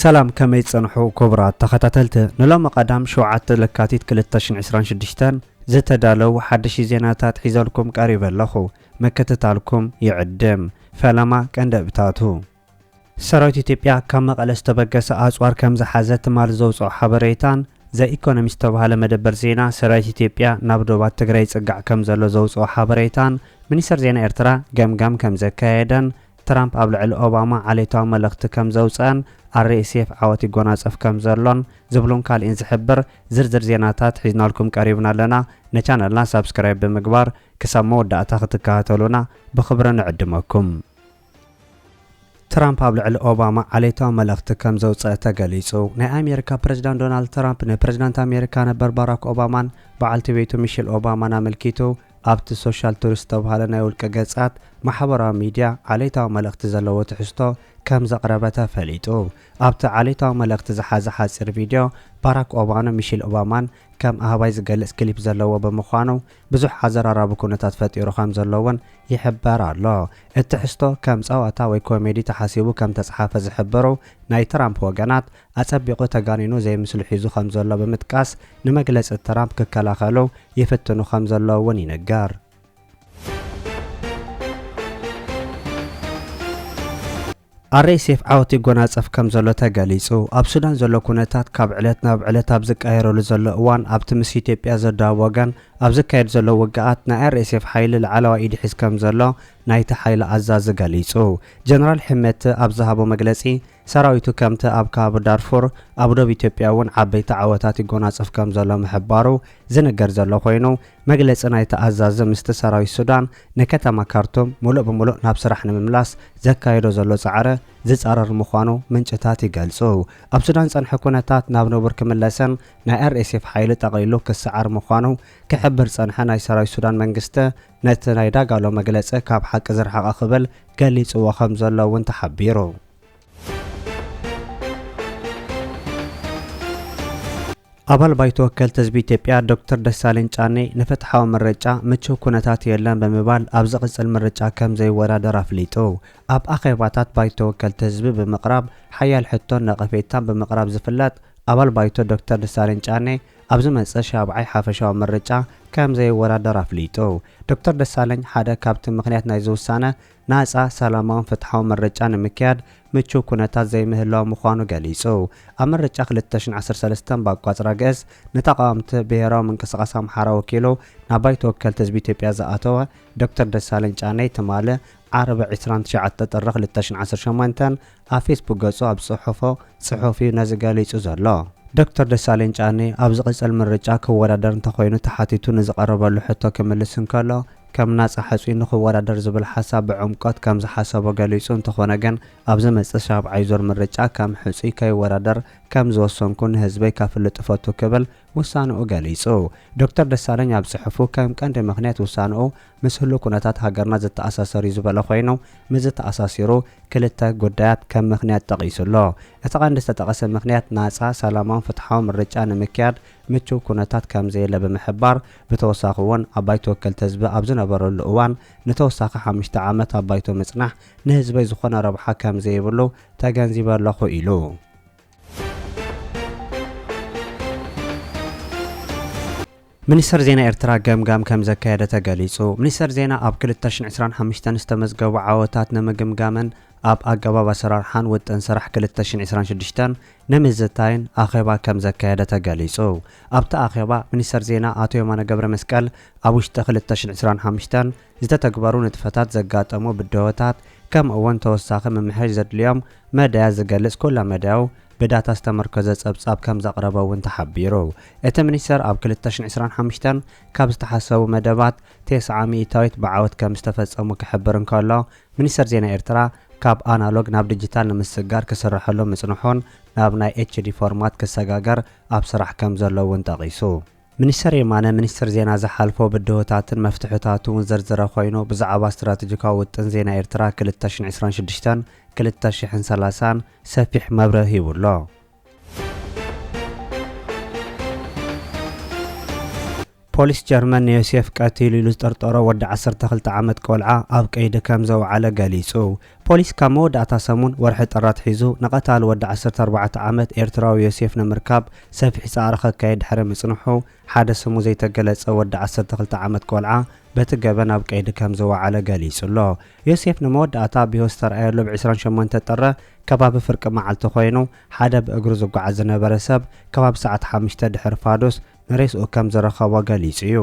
ሰላም ከመይ ትጸንሑ ክቡራት ተኸታተልቲ ንሎሚ ቀዳም ሸውዓተ ለካቲት ክልተ ሽሕን ዕስራን ሽዱሽተን ዝተዳለው ሓደሽቲ ዜናታት ሒዘልኩም ቀሪበ ኣለኹ ምክትታልኩም ይዕድም ፈለማ ቀንደብታቱ ሰራዊት ኢትዮጵያ ካብ መቐለ ዝተበገሰ ኣፅዋር ከምዝሓዘ ትማሊ ዘውፅኦ ሓበሬታን ዘ ኢኮኖሚስት ዝተብሃለ መደበር ዜና ሰራዊት ኢትዮጵያ ናብ ዶባት ትግራይ ይፅጋዕ ከምዘሎ ዘውፅኦ ሓበሬታን ሚኒስተር ዜና ኤርትራ ገምጋም ከምዘካየደን ትራምፕ ኣብ ልዕሊ ኦባማ ዓሌታዊ መልእኽቲ ከምዘውፀኣን RSF ዓወት ይጎናፀፍ ከምዘሎን ዝብሉን ካልእን ዝሕብር ዝርዝር ዜናታት ሒዝናልኩም ቀሪብና ኣለና ንቻነልና ሳብስክራይብ ብምግባር ክሳብ መወዳእታ ክትከታተሉና ብኽብሪ ንዕድመኩም። ትራምፕ ኣብ ልዕሊ ኦባማ ዓሌታዊ መልእኽቲ ከም ዘውፀአ ተገሊፁ። ናይ ኣሜሪካ ፕሬዚዳንት ዶናልድ ትራምፕ ንፕሬዚዳንት ኣሜሪካ ነበር ባራክ ኦባማን በዓልቲ ቤቱ ሚሽል ኦባማን ኣመልኪቱ ኣብቲ ሶሻል ቱሪ ዝተብሃለ ናይ ውልቀ ገጻት ማሕበራዊ ሚድያ ዓሌታዊ መልእኽቲ ዘለዎ ትሕዝቶ ከም ዘቕረበ ተፈሊጡ። ኣብቲ ዓሌታዊ መልእኽቲ ዝሓዘ ሓጺር ቪድዮ ባራክ ኦባማን ሚሽል ኦባማን ከም ኣህባይ ዝገልጽ ክሊፕ ዘለዎ ብምዃኑ ብዙሕ ኣዘራራቢ ኩነታት ፈጢሩ ከም ዘሎ እውን ይሕበር ኣሎ። እቲ ትሕዝቶ ከም ጸወታ ወይ ኮሜዲ ተሓሲቡ ከም ተጽሓፈ ዝሕብሩ ናይ ትራምፕ ወገናት፣ ኣጸቢቑ ተጋኒኑ ዘይምስሉ ሒዙ ከም ዘሎ ብምጥቃስ ንመግለጺ ትራምፕ ክከላኸሉ ይፍትኑ ከም ዘለዉ እውን ይንገር። RSF ዓወት ይጎናጸፍ ከም ዘሎ ተገሊጹ። ኣብ ሱዳን ዘሎ ኩነታት ካብ ዕለት ናብ ዕለት ኣብ ዝቀያየረሉ ዘሎ እዋን ኣብቲ ምስ ኢትዮጵያ ዘዳውብ ወገን ኣብ ዝካየድ ዘሎ ውግኣት ናይ RSF ሓይሊ ላዕለዋይ ኢድ ይሕዝ ከም ዘሎ ናይቲ ሓይሊ ኣዛዚ ገሊጹ። ጀነራል ሕመቲ ኣብ ዝሃቦ መግለጺ ሰራዊቱ ከምቲ ኣብ ከባቢ ዳርፉር ኣብ ዶብ ኢትዮጵያ እውን ዓበይቲ ዓወታት ይጎናጸፍ ከም ዘሎ ምሕባሩ ዝንገር ዘሎ ኮይኑ መግለጺ ናይቲ ኣዛዚ ምስቲ ሰራዊት ሱዳን ንከተማ ካርቱም ምሉእ ብምሉእ ናብ ስራሕ ንምምላስ ዘካይዶ ዘሎ ጻዕሪ ዝጻረር ምዃኑ ምንጭታት ይገልጹ። ኣብ ሱዳን ዝጸንሐ ኩነታት ናብ ንቡር ክምለስን ናይ ኣርኤስኤፍ ሓይሊ ጠቕሊሉ ክሰዓር ምዃኑ ክሕብር ዝጸንሐ ናይ ሰራዊት ሱዳን መንግስቲ ነቲ ናይ ዳጋሎ መግለጺ ካብ ሓቂ ዝረሓቐ ክብል ገሊጽዎ ከምዘሎ እውን ተሓቢሩ። ኣባል ባይቶ ወከልቲ ህዝቢ ኢትዮጵያ ዶክተር ደሳለኝ ጫኔ ንፍትሓዊ ምርጫ ምቹው ኩነታት የለን ብምባል ኣብ ዝቕፅል ምርጫ ከም ዘይወዳደር ኣፍሊጡ። ኣብ ኣኼባታት ባይቶ ወከልቲ ህዝቢ ብምቕራብ ሓያል ሕቶን ነቐፌታን ብምቕራብ ዝፍለጥ ኣባል ባይቶ ዶክተር ደሳለኝ ጫኔ ኣብ ዝመጽእ ሻብዓይ ሓፈሻዊ ምርጫ ከም ዘይወዳደር ኣፍሊጡ። ዶክተር ደሳለኝ ሓደ ካብቲ ምክንያት ናይዚ ውሳነ ናጻ፣ ሰላማውን ፍትሓውን ምርጫ ንምክያድ ምቹው ኩነታት ዘይምህላዉ ምዃኑ ገሊጹ። ኣብ ምርጫ ክልተ ሽሕን ዓሰርተ ሰለስተን ብኣቋጽራ ግእዝ ንተቓወምቲ ብሄራዊ ምንቅስቓስ ኣምሓራ ወኪሉ ናብ ባይቶ ወከልቲ ህዝቢ ኢትዮጵያ ዝኣተወ ዶክተር ደሳለኝ ጫኔ ትማሊ ዓርቢ ዕስራን ትሽዓተ ጥሪ ክልተ ሽሕን ዓሰርተ ሸሞንተን ኣብ ፌስቡክ ገጹ ኣብ ዝጽሐፎ ጽሑፍ እዩ ነዚ ገሊጹ ዘሎ። ዶክተር ደሳለኝ ጫኔ ኣብ ዝቕጽል ምርጫ ክወዳደር እንተኾይኑ ተሓቲቱ ንዝቐረበሉ ሕቶ ክምልስ እንከሎ ከም ናጻ ሕጹይ ንኽወዳደር ዝብል ሓሳብ ብዕምቆት ከም ዝሓሰቦ ገሊጹ እንተኾነ ግን ኣብ ዝመጽእ ሻብዓይ ዙር ምርጫ ከም ሕጹይ ከይወዳደር ከም ዝወሰንኩ ንህዝበይ ከፍልጥ እፈቱ ክብል ውሳንኡ ገሊጹ። ዶክተር ደሳለኝ ኣብ ጽሑፉ ከም ቀንዲ ምኽንያት ውሳንኡ ምስ ህሉው ኩነታት ሃገርና ዝተኣሳሰር እዩ ዝበሎ ኮይኑ፣ ምስዚ ተኣሳሲሩ ክልተ ጉዳያት ከም ምኽንያት ጠቒሱ ኣሎ። እቲ ቀንዲ ዝተጠቐሰ ምኽንያት ናጻ፣ ሰላማውን ፍትሓውን ምርጫ ንምክያድ ምቹው ኩነታት ከም ዘየለ ብምሕባር፣ ብተወሳኺ'ውን ኣብ ባይቶ ወከልቲ ህዝቢ ኣብ ዝነበረሉ እዋን ንተወሳኺ ሓሙሽተ ዓመት ኣብ ባይቶ ምጽናሕ ንህዝበይ ዝኾነ ረብሓ ከም ዘይብሉ ተገንዚበ ኣለኹ ኢሉ። ሚኒስተር ዜና ኤርትራ ገምጋም ከምዘካየደ ተገሊጹ። ሚኒስተር ዜና ኣብ ክልተ ሽሕን ዕስራን ሓሙሽተን ዝተመዝገቡ ዓወታት ንምግምጋምን ኣብ ኣገባብ ኣሰራርሓን ውጥን ስራሕ ክልተ ሽሕን ዕስራን ሽዱሽተን ንምዝታይን ኣኼባ ከምዘካየደ ተገሊጹ። ኣብቲ ኣኼባ ሚኒስተር ዜና ኣቶ የማነ ገብረመስቀል ኣብ ውሽጢ ክልተ ሽሕን ዕስራን ሓሙሽተን ዝተተግበሩ ንጥፈታት ዘጋጠሙ ብድሆታት ከምኡ እውን ተወሳኺ ምምሕያሽ ዘድልዮም መዳያት ዝገልፅ ኩለመዳያዊ ብዳታ ዝተመርኮዘ ፀብፃብ ከምዘቕረበ እውን ተሓቢሩ። እቲ ሚኒስቴር ኣብ ክልተ ሽሕ ዕስራን ሓሙሽተን ካብ ዝተሓሰቡ መደባት ቴስዓ ሚኢታዊት ብዓወት ከምዝተፈፀሙ ክሕብር እንከሎ ሚኒስቴር ዜና ኤርትራ ካብ ኣናሎግ ናብ ዲጂታል ንምስግጋር ክስረሐሉ ምፅንሑን ናብ ናይ ኤችዲ ፎርማት ክሰጋገር ኣብ ስራሕ ከምዘሎ እውን ጠቒሱ። ሚኒስተር የማነ፣ ሚኒስትር ዜና ዝሓልፎ ብድሆታትን መፍትሕታቱ'ውን ዘርዘረ ኮይኑ፣ ብዛዕባ ስትራተጂካዊ ውጥን ዜና ኤርትራ ክልተ ሽሕን ዕስራን ሽዱሽተን፣ ክልተ ሽሕን ሰላሳን ሰፊሕ መብርሂ ሂቡ ኣሎ። ፖሊስ ጀርመን ንዮሴፍ ቀቲሉ ኢሉ ዝጠርጠሮ ወዲ ዓሰርተ ክልተ ዓመት ቆልዓ ኣብ ቀይዲ ከምዘውዓለ ገሊጹ። ፖሊስ ካብ መወዳእታ ሰሙን ወርሒ ጥሪ ኣትሒዙ ንቐታሊ ወዲ ዓሰርተ ኣርባዕተ ዓመት ኤርትራዊ ዮሴፍ ንምርካብ ሰፊሕ ጻዕሪ ከካይድ ድሕሪ ምጽንሑ፣ ሓደ ስሙ ዘይተገለጸ ወዲ ዓሰርተ ክልተ ዓመት ቆልዓ በቲ ገበን ኣብ ቀይዲ ከም ዝወዓለ ገሊጹ'ሎ። ዮሴፍ ንመወዳእታ ኣብ ህይወት ዝተርኣየሉ ብ ዕስራን ሸሞንተን ጥሪ ከባቢ ፍርቂ መዓልቲ ኮይኑ፣ ሓደ ብእግሩ ዝጓዓዝ ዝነበረ ሰብ ከባቢ ሰዓት ሓሙሽተ ድሕሪ ፋዱስ፣ ንሬስኡ ከም ዝረኸቦ ገሊጹ እዩ።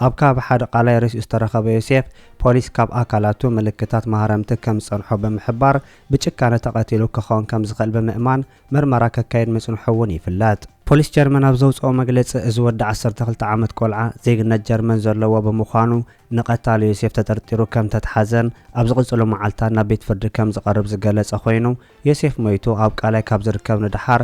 ኣብ ከባቢ ሓደ ቃላይ ሬስኡ ዝተረኸበ ዮሴፍ፣ ፖሊስ ካብ ኣካላቱ ምልክታት ማህረምቲ ከም ዝጸንሖ ብምሕባር፣ ብጭካነ ተቐቲሉ ክኸውን ከም ዝኽእል ብምእማን ምርመራ ከካይድ ምጽንሑ እውን ይፍለጥ። ፖሊስ ጀርመን ኣብ ዘውጽኦ መግለጺ፣ እዚ ወዲ ዓሰርተ ክልተ ዓመት ቆልዓ፣ ዜግነት ጀርመን ዘለዎ ብምዃኑ፣ ንቐታሊ ዮሴፍ ተጠርጢሩ ከም ዝተትሓዘን ኣብ ዝቕጽሉ መዓልታት ናብ ቤት ፍርዲ ከም ዝቐርብ ዝገለጸ ኮይኑ፣ ዮሴፍ ሞይቱ ኣብ ቃላይ ካብ ዝርከብ ንደሓር፣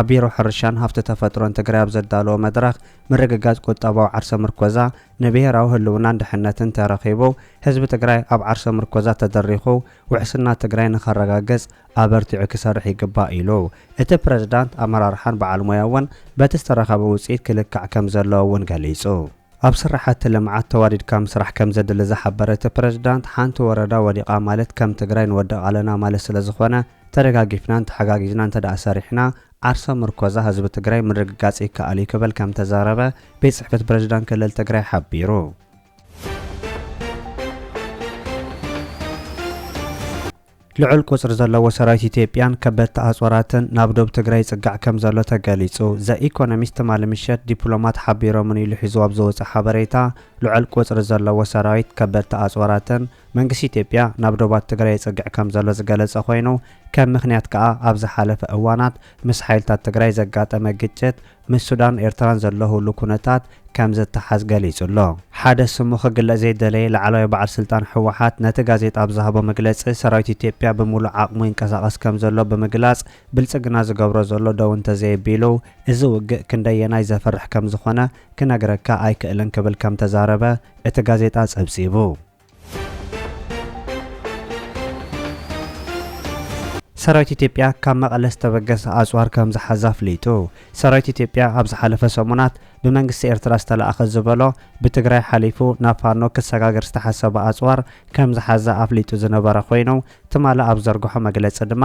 ኣብ ቢሮ ሕርሻን ሃፍቲ ተፈጥሮን ትግራይ ኣብ ዘዳለዎ መድረኽ ምርግጋፅ ቁጠባዊ ዓርሰ ምርኮዛ ንብሄራዊ ህልውናን ድሕነትን ተረኺቡ ህዝቢ ትግራይ ኣብ ዓርሰ ምርኮዛ ተደሪኹ ውሕስና ትግራይ ንኸረጋግፅ ኣበርቲዑ ክሰርሕ ይግባእ ኢሉ። እቲ ፕረዚዳንት ኣመራርሓን በዓል ሞያ እውን በቲ ዝተረኸበ ውፅኢት ክልካዕ ከምዘለዎ እውን ገሊፁ። ኣብ ስራሕቲ ልምዓት ተዋዲድካ ምስራሕ ከምዘድሊ ዝሓበረ እቲ ፕሬዝዳንት፣ ሓንቲ ወረዳ ወዲቓ ማለት ከም ትግራይ ንወድቕ ኣለና ማለት ስለዝኾነ ተደጋጊፍናን ተሓጋጊዝናን እንተድኣ ሰሪሕና ዓርሰ ምርኮዛ ህዝቢ ትግራይ ምርግጋፅ ይከኣል ዩ ክብል ከምተዛረበ ቤት ፅሕፈት ፕሬዝዳንት ክልል ትግራይ ሓቢሩ። ልዑል ቁጽሪ ዘለዎ ሰራዊት ኢትዮጵያን ከበድቲ ኣጽዋራትን ናብ ዶብ ትግራይ ይጽጋዕ ከምዘሎ ተገሊጹ። ዘኢኮኖሚስት ትማሊ ምሸት ዲፕሎማት ሓቢሮምን ኢሉ ሒዝዎ ኣብ ዘወጸ ሓበሬታ፣ ልዑል ቁጽሪ ዘለዎ ሰራዊት፣ ከበድቲ ኣጽዋራትን መንግስቲ ኢትዮጵያ ናብ ዶባት ትግራይ የጽግዕ ከምዘሎ ዝገለጸ ኮይኑ፣ ከም ምኽንያት ከኣ ኣብ ዝሓለፈ እዋናት ምስ ሓይልታት ትግራይ ዘጋጠመ ግጭት ምስ ሱዳን ኤርትራን ዘለሁሉ ኩነታት ከም ዘተሓዝ ገሊጹ'ሎ። ሓደ ስሙ ክግለጽ ዘይደለየ ላዕላዋይ በዓል ስልጣን ህወሓት ነቲ ጋዜጣ ኣብ ዝሃቦ መግለጺ፣ ሰራዊት ኢትዮጵያ ብምሉእ ዓቕሙ ይንቀሳቐስ ከም ዘሎ ብምግላጽ፣ ብልጽግና ዝገብሮ ዘሎ ደው እንተዘየቢሉ እዚ ውግእ ክንደየናይ ዘፍርሕ ከም ዝኾነ ክነግረካ ኣይክእልን ክብል ከም ተዛረበ እቲ ጋዜጣ ጸብጺቡ። ሰራዊት ኢትዮጵያ ካብ መቐለ ዝተበገሰ ኣፅዋር ከምዝሓዘ ኣፍሊጡ። ሰራዊት ኢትዮጵያ ኣብ ዝሓለፈ ሰሙናት ብመንግስቲ ኤርትራ ዝተልኣኸ ዝበሎ ብትግራይ ሓሊፉ ናብ ፋኖ ክሰጋገር ዝተሓሰበ ኣፅዋር ከምዝሓዘ ኣፍሊጡ ዝነበረ ኮይኑ ትማሊ ኣብ ዘርገሖ መግለፂ ድማ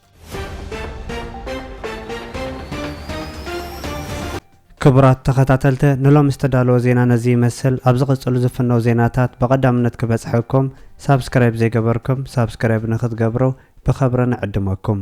ክቡራት ተኸታተልተ ንሎሚ ዝተዳለወ ዜና ነዚ ይመስል ኣብ ዝቕጽሉ ዝፍነው ዜናታት ብቐዳምነት ክበጽሐኩም ሳብስክራይብ ዘይገበርኩም ሳብስክራይብ ንክትገብሩ ብኸብሪ ንዕድመኩም